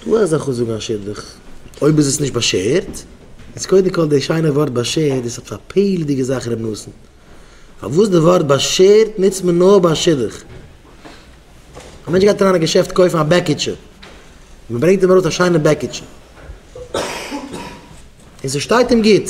שטא א זאך און זאגן א שבח אויב איז עס נישט באשערט, איז קודם כל די שיינע ווארט באשערט דאס א פלא'דיגע זאך ר' נתן, פארוואס די ווארט באשערט נוצט מען נאר ביי א שידוך? א מענטש גייט אריין אין א געשעפט קויפן א בעקיטשע, און מען ברענגט אים ארויס א שיינע בעקיטשע, און ס'שטייט אים גוט,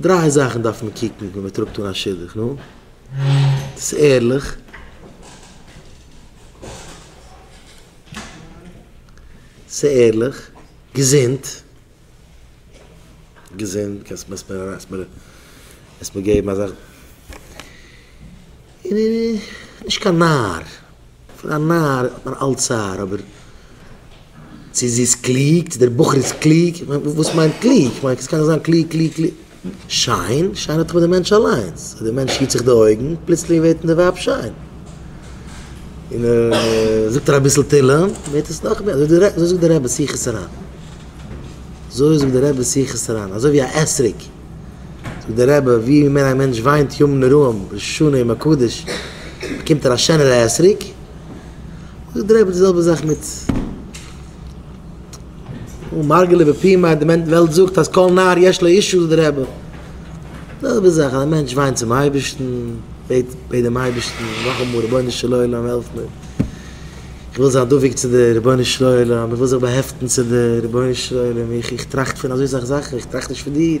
דריי זאכן דארף מען קוקן ווען מען טראגט אן א שידוך, נו, ס'איז ערליך, ס'איז ערליך, געזונט, געזונט, קענסט מיר עס מיר עס מיר געבן אזא. און ער איז נישט קיין נאַר. פון א נאַר האָט מען אַלץ צער, אָבער צו זי איז קלוג, צו דער בחור איז קלוג, איך מיין, וואָס מיינט קלוג? איך מיין, וואָס קאָן איך זיין קלוג, קלוג, קלוג? שיין? שיין האָט דאָך מיט דעם מענטש אַליינס. אַז דער מענטש היט זיך די אויגן, פּלוצלינג ווערט אין דער ווייב שיין. און זאָגט ער אַביסל תהילים, ווערט עס נאָך מער. אַזוי זאָגט דער רבי, שיחות הר ן. אַזוי זאָגט דער רבי, שיחות הר ן. אַזוי ווי אַ אתרוג. זאגט דער רבי ווי מער א מענטש וויינט ימים נוראים ראש השנה יום הקדוש באקומט ער א שענערע עסריק, זאגט דער רבי די זעלבע זאך מיט אן מרגלא בפי מיה, די וועלט זאגט אז כל נער יש לו אישו זאגט דער רבי די זעלבע זאך אז א מענטש וויינט צום אייבערשטן בעט בעט דעם אייבערשטן נאכאמאל רבונו של עולם העלף מיר איך וויל זיין דבוק צו דיר רבונו של עולם איך וויל זיך באהעפטן צו דיר רבונו של עולם איך איך טראכט פון אזוי סאך זאכן איך טראכט נישט פון דיר.